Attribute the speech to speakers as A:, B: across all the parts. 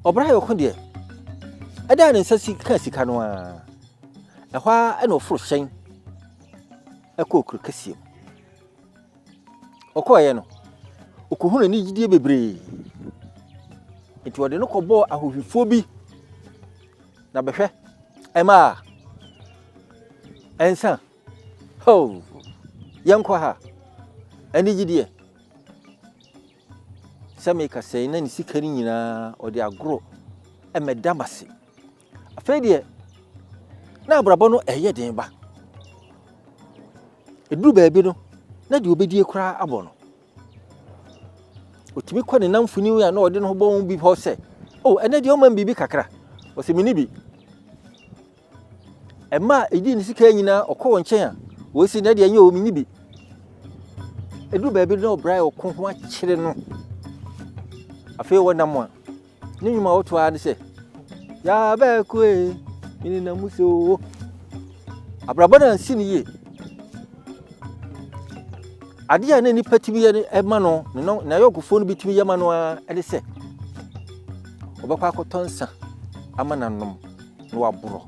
A: Ɔbran yɛ ɔko deɛ, ɛda ne nsa si ka sika no ara. Ɛhɔ ara ɛna ɔforo hyɛn ɛkɔ okuro kɛseɛ mu. Ɔkɔɔeɛ no, ɔkɔhunu anigyedeɛ bebree. Nti ɔde no kɔbɔɔ ahohwifoɔ bi na bɛhwɛ ɛma a ɛnsa ho yɛnkɔ ha anigyedeɛ sɛ meka sɛn na ne sika no nyinaa ɔde agorɔ mmɛda m ase afei deɛ na abrabɔ no ɛyɛ den ba ɛduru baabi no na deɛ ɔbɛdie koraa abɔ no ɔtumi kɔ ne namfoni a na ɔde no ho bɔ ho bi hɔ sɛ o oh, ɛnɛ deɛ ɔma m biribi kakra ɔsɛ mene bi Ɛma a ɛdi ne sika nyinaa ɔkɔ wɔn nkyɛn a, wɔsi na deɛ ɛnyɛ wɔn nyi bi. Ɛduru baabi na ɔbra a ɔko ho akyere no. Afei wɔ nam a, ne nnwom a ɔto ara ne sɛ, yɛabɛko e, mene na mu sɛ o. Abrabɔ no ansi no yie. Adeɛ a na nnipa tumi yɛ no ɛma no, ne no- n'ayɔnkofoɔ no bi tumi yɛ ma no ara ne sɛ, ɔbɛkɔ akɔtɔ nsa ama n'anom. na waborɔ.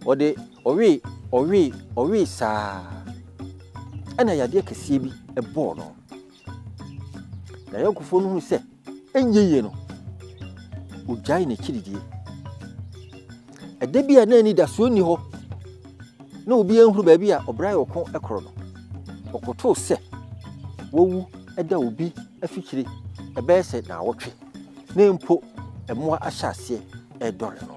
A: Ɔde ɔwee ɔwee ɔwee saa ɛna yadeɛ kɛseɛ bi ɛbɔɔ no. Na yɛnkofoɔ no hu sɛ ɛnyɛ yie no ɔgyae n'akyi didie. Ɛda bi a na anidasoɔ nni hɔ na obi anhunu baabi a ɔbra yɛ ɔko korɔ no ɔkotoo sɛ wawu ɛda obi afikyire ɛbɛyɛ sɛ naawɔtwe. na mpo mmoa ahyɛ aseɛ redɔre no.